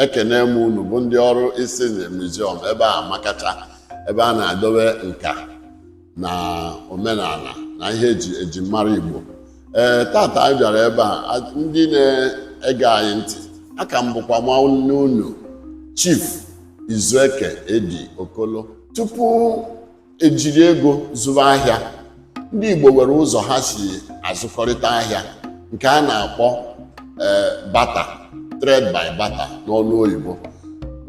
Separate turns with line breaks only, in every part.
ekene m unu bụ ndị ọrụ isi na museum ebe a makacha ebe a na-edobe nka na omenala na ihe eji eji mara igbo ee tata anyị bịara ebe a a- ndị na-ege anyị ntị aka m bụkwa nwanne unu chief izueke eddy okolo tupu ejiri ego zụwa ahịa ndị Igbo nwere ụzọ ha si azụkọrịta ahịa nke a na-akpọ eh, barter trade by barter n'ọnụ oyibo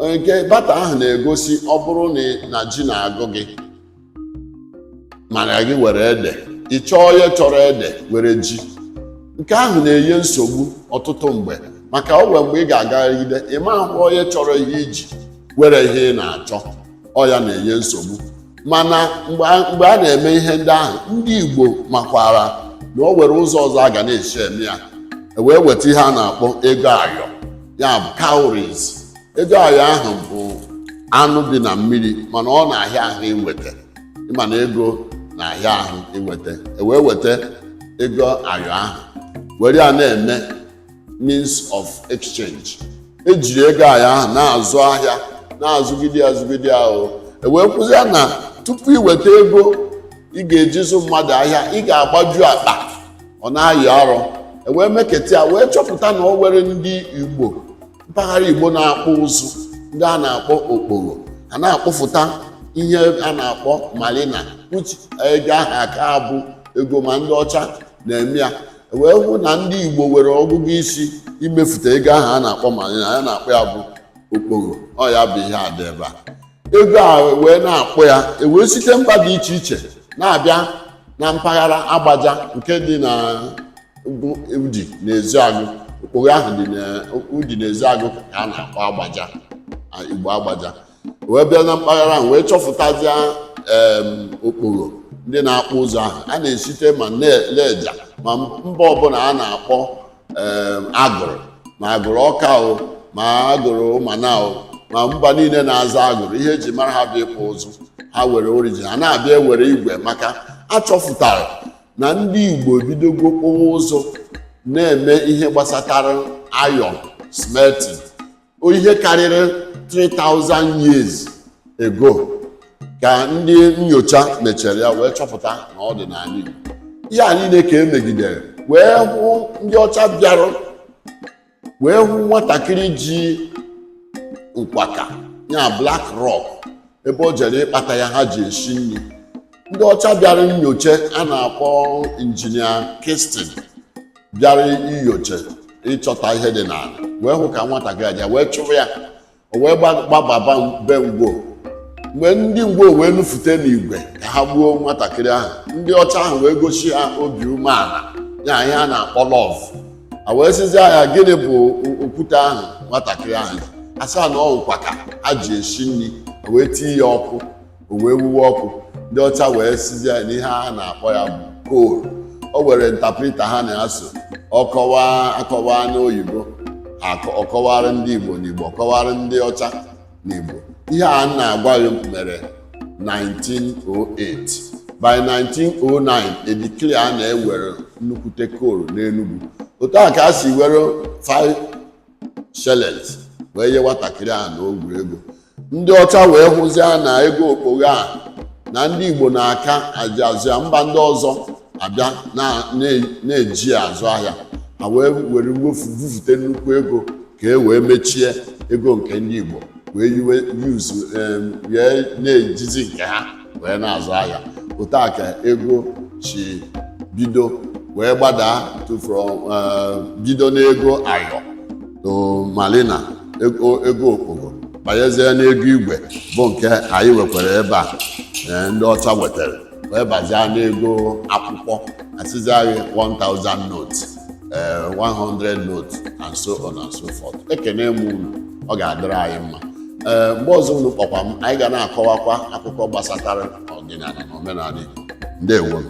eh, nke barter ahụ na-egosi ọ bụrụ na ji na-agụ gị mana gị were ede ị chọọ onye chọrọ ede were ji nke ahụ na-enye nsogbu ọtụtụ mgbe maka o nwere mgbe ị ga-agagide ị ma ahụ onye chọrọ ihe i ji were ihe ị na-achọ ọ ya na-enye nsogbu mana mgbe a mgbe a na-eme ihe ndị ahụ ndị Igbo makwara na o nwere ụzọ ọzọ a ga na-esi eme ya e wee weta ihe a na-akpọ ego ayọ ya bụ cowries ego ayọ ahụ bụ anụ dị na mmiri mana ọ na-ahịa ahụ inweta ị ma na ego na-ahịa ahụ inweta e wee weta ego ayọ ahụ were ya na-eme means of exchange ejiri ego ayọ ahụ na-azụ ahịa na-azụgide azụgide ahụ ewee hụzịa na tupu iweta ego ị ga-eji zụ mmadụ ahịa ị ga-agbaju akpa ọ na-ayị arọ ewee meketa ya wee chọpụta na o nwere ndị igbo mpaghara igbo na-akpụ ụzụ ndị a na-akpọ okpogho a na-akpụfụta ihe a na-akpọ malina which ego ahụ aka abụ ego ma ndị ọcha na-eme ya e wee hụ na ndị Igbo were ọgụgụ isi imefụta ego ahụ a na-akpọ ma anyị na- a na-akpọ ya bụ okpogho ọ ya bụ ihe a dị ebe a ego a wee na-akpụ ya e wee site mba dị iche iche na-abịa na mpaghara agbaja nke dị na Udi na Ezeagụ okpogho ahụ dị na Udi na Ezeagụ ka a na-akpọ agbaja a, Igbo agbaja wee bịa na mpaghara ahụ wee chọpụtazịa em, okpogho ndị na-akpụ ụzụ ahụ a na-esite ma ne- lejja ma mba ọbụla a na-akpọ em, agụrụ ma agụrụ ọka o ma agụrụ ụmana o ma mba niile na-aza agụrụ ihe eji mara ha bụ ịkpụ ụzụ ha were origin ha na-abịa ewere igwe maka a chọpụtara na ndị igbo ebidogo kpụwa ụzụ na-eme ihe gbasatara iron smelting ihe karịrị 3000 years ago ka ndị nyocha mechara ya wee chọpụta na ọ dị n'ala Igbo ihe a niile ka emegidere wee hụ ndị ọcha bịara wee hụ nwatakịrị ji nkwaka ya black rock ebe o jere ịkpata ya ha ji esi nri ndị ọcha bịara nyocha a na-akpọ engineer Kitson bịara inyocha ịchọta ihe dị n'ala wee hụ ka nwatakịrị aja wee chụrụ ya o wee gba- gbababa be ngwo mgbe ndị ngwo wee nufute n'igwe ka ha gbuo nwatakịrị ahụ ndị ọcha ahụ wee gosi ha obi umeala ya ihe a na-akpọ love a wee sịzi ya gịnị bụ o- okwute ahụ nwatakịrị ahụ ji? a sị ya na ọ nkụ a ka ha ji esi nri a wee tie ya ọkụ o wee wuwe ọkụ ndị ọcha wee sịzi ya na ihe a na-akpọ ya bụ coal o were ntaprita ha na-asụ ọkọwa a kọwaa n'oyibo akọ- ọ kọwara ndị igbo n'igbo ọ kọwara ndị ọcha n'igbo ihe a m na-agwa gị mere 1908 by 1909 e declare na e were nnukwute coal n'enugwu otu a ka a si were shillings wee nye nwatakịrị a na ogwuru ego ndị ọcha wee hụzie na ego okpogho a na ndị igbo na-aka eji azụ ahịa mba ndị ọzọ abịa na- na- na-eji ya azụ ahịa ha wee were mwefu bufute nnukwu ego ka e wee mechie ego nke ndị igbo wee yiwe yuzu em, wee na-ejizi nke ha wee na-azụ ahịa otu a ka ego si bido wee gbadaa to from eh, bido n'ego ayọ to malina ego ego okpogho banyezie n'ego igwe bụ nke anyị wekwara ebe a eh, ndị ọcha wetara wee bazie n'ego akwụkwọ a sịzi anyị 1000 notes ee 100 note and so on and so forth ekene m unu ọ ga-adịrị anyị mma ee mgbe ọzọ unu kpọkwa m anyị ga na-akọwakwa akụkọ gbasatara ọdịnala na omenala Igbo ndewonụ